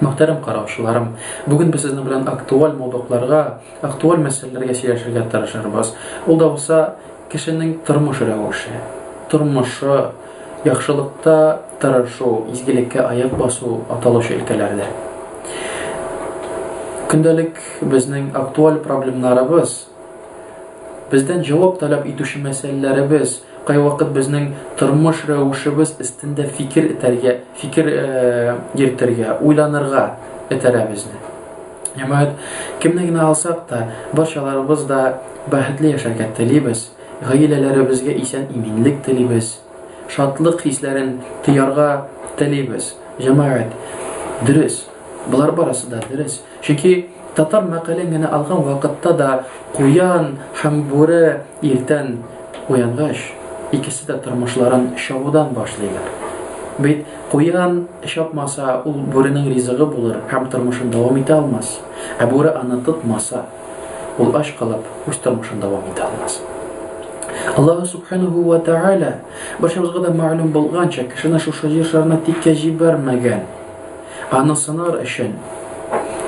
Мөхтәрәм караучыларым, бүген без сезнең белән актуаль мавдукларга, актуаль мәсьәләләргә сөйләшергә тырышырбыз. Ул да булса кешенең тормыш рәвеше, тормышы, яхшылыкта тырышу, изгелеккә аяк басу аталучы өлкәләрдә. Көндәлек безнең актуаль проблемнарыбыз Бездән җавап таләп итүче мәсьәләләребез, кайвакыт безнең тормыш рәвешебез өстендә фикер итәргә, фикер э, йөртергә, уйланырга этәрә безне. Җәмәгать, кемне генә алсак та, барчаларыбыз да бәхетле яшәргә телибез, гаиләләребезгә исән иминлек телибез, шатлык хисләрен тыярга телибез. Җәмәгать, дөрес, болар барысы да дөрес, Чөнки татар мәкален генә алган вакытта да куян һәм бүре иртән уянгач, икесе дә тормышларын чабудан башлыйлар. Бит куян чапмаса, ул бүренең ризыгы булыр һәм тормышын дәвам итә алмас. Ә бүре аны тотмаса, ул ач калып, үз тормышын дәвам итә алмас. Аллаһ Субханаһу ва Тәгалә, барчабызга да мәгълүм булганча, кешене шушы җир шарына тиккә җибәрмәгән. Аны сынар өчен.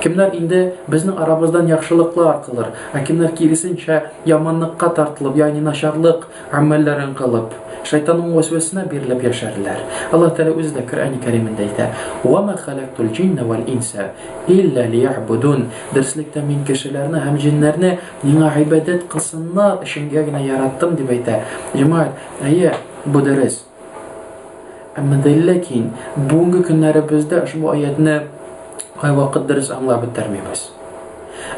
Кемнәр инде безнең арабыздан яхшылыклар кылыр, ә кемнәр киресенчә яманлыкка тартылып, ягъни начарлык гамәлләрен кылып, шайтанның вәсвәсенә бирелеп яшәрләр. Аллаһ Тәгалә үзе дә Коръәни Кәримендә әйтә, Ва ма халактул джинна вәл инса илля лиябудун. Дөреслектә мин кешеләрне һәм җиннәрне миңа гыйбадәт кылсыннар өченгә генә яраттым, дип әйтә. Җәмәгать, әйе, бу дөрес. Әмма дә ләкин бүгенге көннәребездә ошбу аятны кайвакыт дөрес аңлап бетермибез.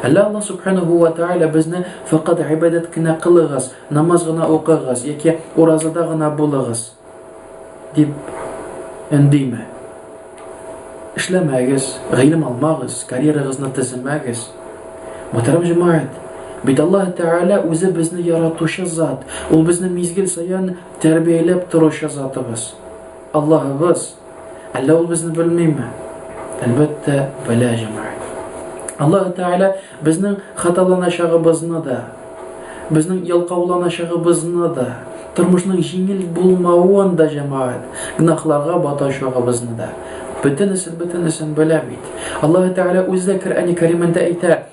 Әллә Аллаһ субханаһу ва тааля безне факат гыйбадәт кенә кылыгыз, намаз гына укыгыз яки уразада гына булыгыз дип өндиме? Эшләмәгез, гыйлем алмагыз, карьерагызны төземәгез. Мөхтәрәм җәмәгать, бит Аллаһ Тәгалә үзе безне яратучы зат. Ул безне мизгел саен Тәрбияләп торучы Затыбыз, Аллаһыбыз. Әллә ул безне белмиме? Әлбәттә, белә, җәмәгать. Аллаһ Тәгалә безнең хаталаначагыбызны да, безнең ялкауланачагыбызны да, тормышның җиңел булмавын да, җәмәгать, гнахларга батачагыбызны да, бөтенесен-бөтенесен белә бит. Аллаһ Тәгалә үзе дә Коръәни Кәримендә әйтә,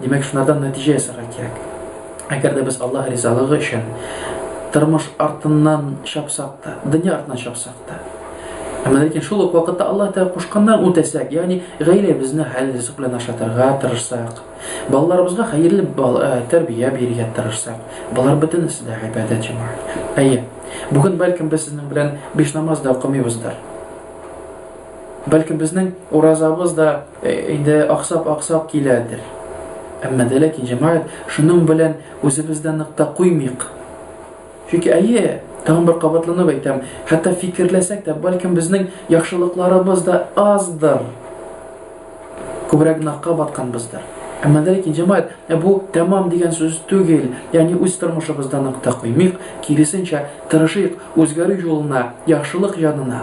Димәк, шунардан нәтиҗә ясарга кирәк. Әгәр дә без Аллаһ ризалыгы өчен тормыш артыннан чапсак та, дөнья артыннан чапсак та, әмма ләкин шул ук вакытта Аллаһ Тәгалә кушканнан үтәсәк, ягъни гаиләбезне хәл ризык белән ашатырга тырышсак, балаларыбызга хәерле э, тәрбия бирергә тырышсак, болар бөтенесе дә гыйбадәт җәмәгать. Әйе, бүген бәлкем без сезнең белән биш намаз да укымыйбыздыр. Бәлки безнең уразабыз да э, инде аксап-аксап киләдер. Әмма дә ләкин җәмәгать шуның белән үзебездә нык та куймыйк. Чөнки әйе, тагын бер кабатланып әйтәм, хәтта фикерләсәк тә, бәлкем безнең яхшылыкларыбыз да аздыр. Күбрәк гөнаһка батканбыздыр. Әмма дә ләкин җәмәгать, ә бу тәмам дигән сүз түгел. Ягъни үз тормышыбызда нык та куймыйк, киресенчә, тырышыйк үзгәрү юлына, яхшылык янына.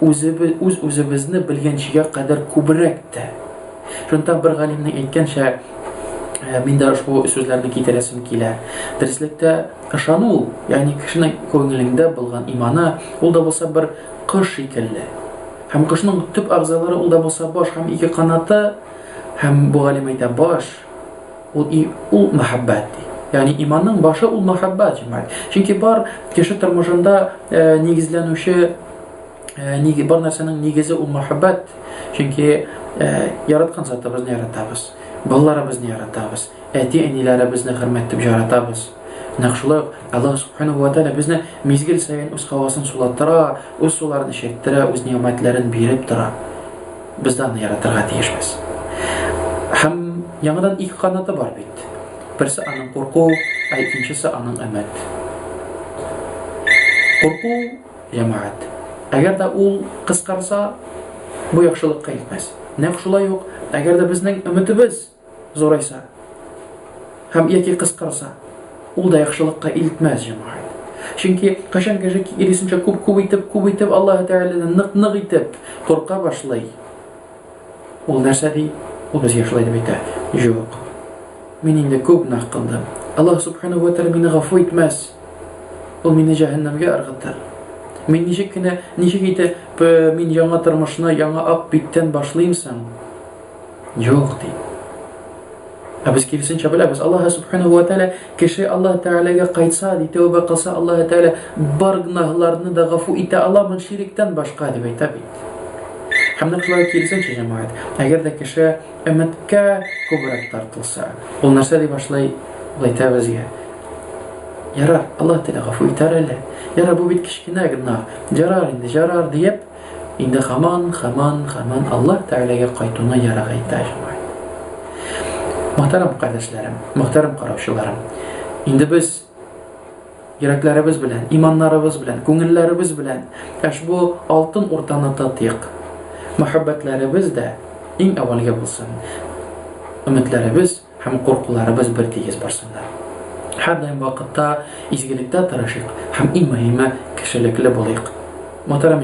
үз-үзебезне белгәнчегә кадәр күбрәк тә. Шунда бер галимнең әйткәнчә, Э, мин дә ошбу сүзләрне китерәсем килә. Дөреслектә ышану ул, ягъни кешенең күңелендә булган иманы, ул да булса бер кош шикелле. Һәм кошның төп агзалары ул да булса баш һәм ике канаты, һәм бу галим әйтә баш, Ул и ул мәхәббәт ди. Ягъни иманның башы ул мәхәббәт, җәмәгать. Чөнки бар кеше тормышында э, нигезләнүче э, ниге бар нәрсәнең нигезе ул мәхәббәт. Чөнки э, яраткан затыбызны яратабыз, балаларыбызны яратабыз, әти-әниләребезне хөрмәт итеп яратабыз. Нәкъ шулай ук Аллаһ Субханаһу ва Тәгалә безне мизгел саен үз һавасын сулаттыра, үз суларын эчәйттерә, үз нигъмәтләрен биреп тора. Без дә аны яратырга тиешбез. Һәм яңадан ике канаты бар бит. Берсе аның курку, ә икенчесе аның өмет. Курку, җәмәгать. Әгәр дә ул кыскарса, бу яхшылыкка итмәс. Нәкъ шулай ук, әгәр дә безнең өметебез Зурайса. Һәм яки кыскарса. Ул да яхшылыкка илтмәс җәмәгать. Чөнки кашан кеше киресенчә күп күп итеп, күп итеп Аллаһ Тәгаләдән нык-нык итеп курка башлый. Ул нәрсә ди? Ул без яшьләр дип әйтә. Юк. Мин инде күп гөнаһ кылдым. Аллаһ Субхану ва Тәгалә мине гафу итмәс. Ул мине җәһәннәмгә ыргытыр. Мин ничек кенә, ничек итеп мин яңа тормышны яңа ак биттән башлыймсың? Юк, ди. Ә без киресенчә беләбез. Аллаһ Субхану ва Тәала кеше Аллаһ Тәаләгә кайтса, ди, тәүбә кылса, Аллаһ Тәала бар гүнаһларны да гафу итә аламын шириктән башка дип әйтә бит. Һәм нәкъ шулай киресенчә җәмәгать. Әгәр дә кеше өмәткә күбрәк тартылса, ул нәрсә дип башлый? Ул әйтә безгә. Ярар, Аллаһ Тәалә гафу итәр әле. Ярар, бу бит кечкенә гүнаһ. Ярар инде, ярар диеп, Инде хаман, хаман, хаман Аллаһ Тәгаләгә кайтуны ярак әйтә җәмәгать. Мөхтәрәм кардәшләрем, мөхтәрәм караучыларым. Инде без йөрәкләребез белән, иманнарыбыз белән, күңелләребез белән әш бу алтын уртаны татыйк. Мәхәббәтләребез дә иң әвәлгә булсын. Өметләребез һәм куркуларыбыз бер тигез барсыннар. Һәрдаим вакытта изгелектә тырышыйк һәм иң мөһиме кешелекле булыйк. Мөхтәрәм